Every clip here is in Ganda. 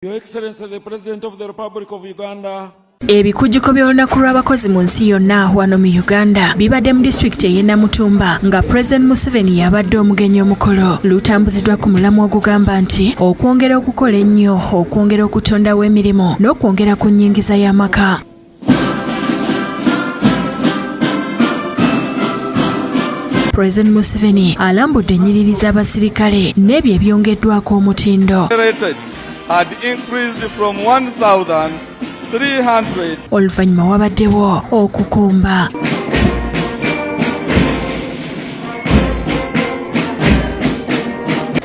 Your Excellency the President of the Republic of Uganda ebikujjuko by'olunaku lw'abakozi mu nsi yonna wano mu uganda bibadde mu disitulikiti ey'e namutumba nga pulezidenti museveni yabadde omugenyi omukolo lutambuziddwa ku mulamu ogugamba nti okwongera okukola ennyo okwongera okutondawo emirimu n'okwongera ku nnyingiza y'amaka President Museveni alambudde ennyiriri z'abasirikale n'ebyo ebyongeddwako omutindo. Oluvannyuma wabaddewo okukumba.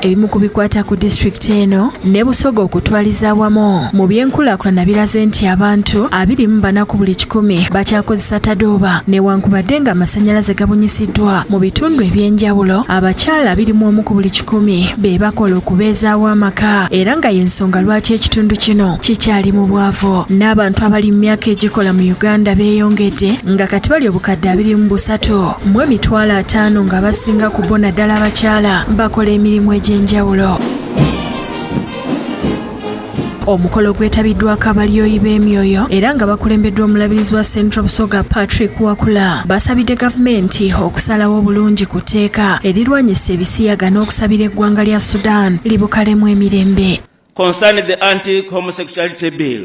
ebimu ku bikwata ku disitulikiti eno ne busoga okutwaliza awamu mu byenkulaakulana biraze nti abantu abiri mu bana ku buli kikumi bakyakozesa tadooba newankubadde nga amasannyalaze gabunyisiddwa mu bitundu eby'enjawulo abakyala abiri mu omu ku buli kikumi be bakola okubeezaawo amaka era nga y'ensonga lwaki ekitundu kino kikyali mu bwavu n'abantu abali mu myaka egikola mu uganda beeyongedde nga kati bali obukadde abiri mu busatu mu emitwalo ataano nga basinga ku bo naddala abakyala bakola emirimu egy'enjawulo omukolo gwetabiddwako abalyoyi b'emyoyo era nga bakulembeddwa omulabirizi wa central busoga patrick wakula basabidde gavumenti okusalawo obulungi ku tteeka erirwanyisa ebisiyaga n'okusabira eggwanga lya sudan libukalemu emirembe concerning the anti homosexuality bill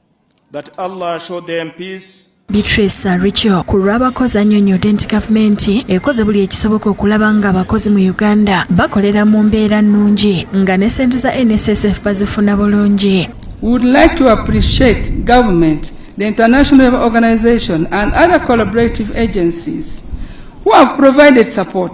That Allah show them peace Beatrice Aricho ku lw'abakozi annyonnyodde nti gavumenti ekoze buli ekisoboka okulaba nga abakozi mu Uganda bakolera mu mbeera nnungi nga ne ssente za NSSF bazifuna bulungi. We would like to appreciate government, the international organization and other collaborative agencies who have provided support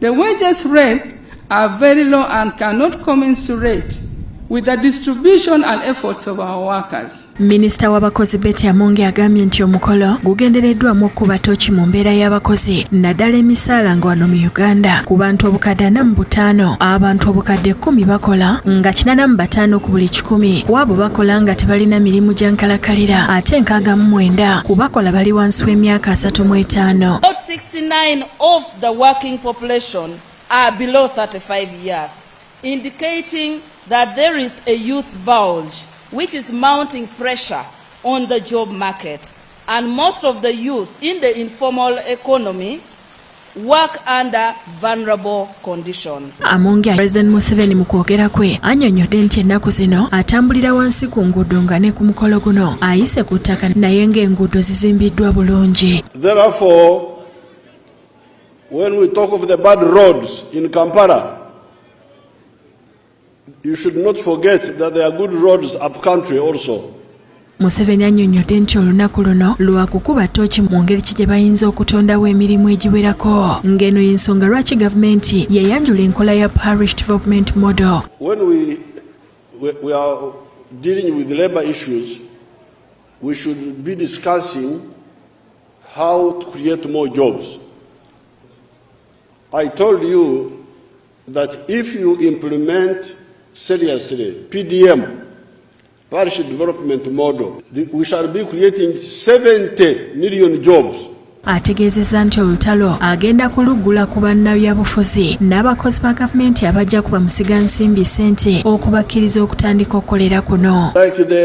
The wages rates are very low and cannot commensurate with the distribution and efforts of our workers. Minister w'abakozi Betty Amonge agambye nti omukolo gugendereddwamu okukuba tooki mu mbeera y'abakozi naddala emisaala nga wano mu Uganda ku bantu obukadde ana mu butaano abantu obukadde ekkumi bakola nga kinana mu bataano ku buli kikumi ku abo bakola nga tebalina mirimu gya nkalakalira ate nkaaga mu mwenda ku bakola bali wansi w'emyaka asatu mu etaano. 69 of the working population are below 35 years, indicating that there is a youth bulge which is mounting pressure on the job market. And most of the youth in the informal economy work under vulnerable conditions. Amongi President Museveni mu kwogera kwe anyonyodde nti ennaku zino atambulira wansi ku nguudo nga ne ku mukolo guno ayise ku ttaka naye ng'enguudo zizimbiddwa bulungi. Therefore, when we talk of the bad roads in Kampala, you should not forget that there are good roads up country also. museveni annyonnyodde nti olunaku luno lwa kukuba tooki mu ngeri ki gye bayinza okutondawo emirimu egiwerako ng'eno y'ensonga lwaki gavumenti yayanjula enkola ya parish development model When we, we, we are dealing with labor issues, We should be discussing how to create more jobs. I told you that if you implement seriously PDM, Parish Development Model, we shall be creating 70 million jobs. ategeezezza nti olutalo agenda kuluggula ku bannabyabufuzi n'abakozi ba gavumenti abajja kuba musiga nsimbi ssente okubakkiriza okutandika okukolera kuno like the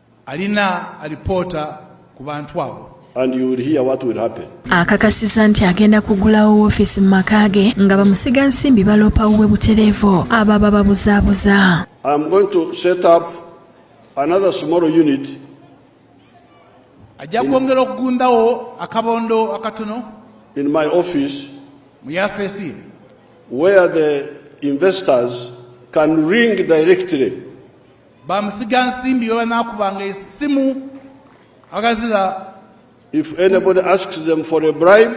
alina alipoota ku bantu abo and you will hear what will happen. Akakasiza nti agenda kugulawo woofiisi mu maka ge nga bamusiga nsimbi baloopa wuwe butereevu abo abababuzaabuza. I am going to set up another small unit. Ajja kwongera okugundawo akabondo akatono. In my office. Mu yafeesi. Where the investors can ring directly. bamusiga nsimbi bebanakubanga esimu agazira if anybody asks them for a bribe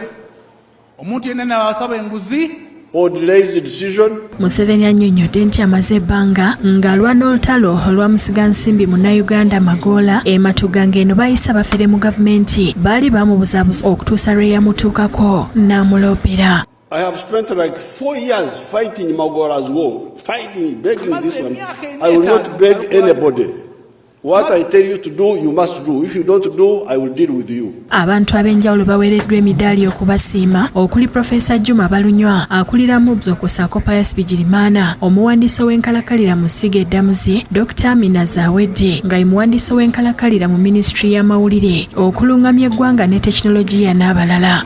omuntu yenna nabasaba enguzi or delays the decision museveni annyonnyodde nti amaze ebbanga ng'alwana olutalo olwamusiga nsimbi munnayuganda magoola ematuga ng'eno bayisa bafere mu gavumenti baali bamubuzabuza okutuusa lwe yamutuukako n'amuloopera I have spent like four years fighting Magora's war, fighting, begging this one. I will not beg anybody. What I tell you to do, you must do. If you don't do, I will deal with you. Abantu ab'enjawulo baweereddwa emidaali okubasiima okuli Profesa Juma Balunywa akulira MUBS okusaako Pius Bigirimana omuwandiisi w'enkalakalira mu ssiga eddamuzi Dr. Amina Zawedde nga ye muwandiisi w'enkalakalira mu minisitule y'amawulire okulungamya eggwanga ne tekinologiya n'abalala.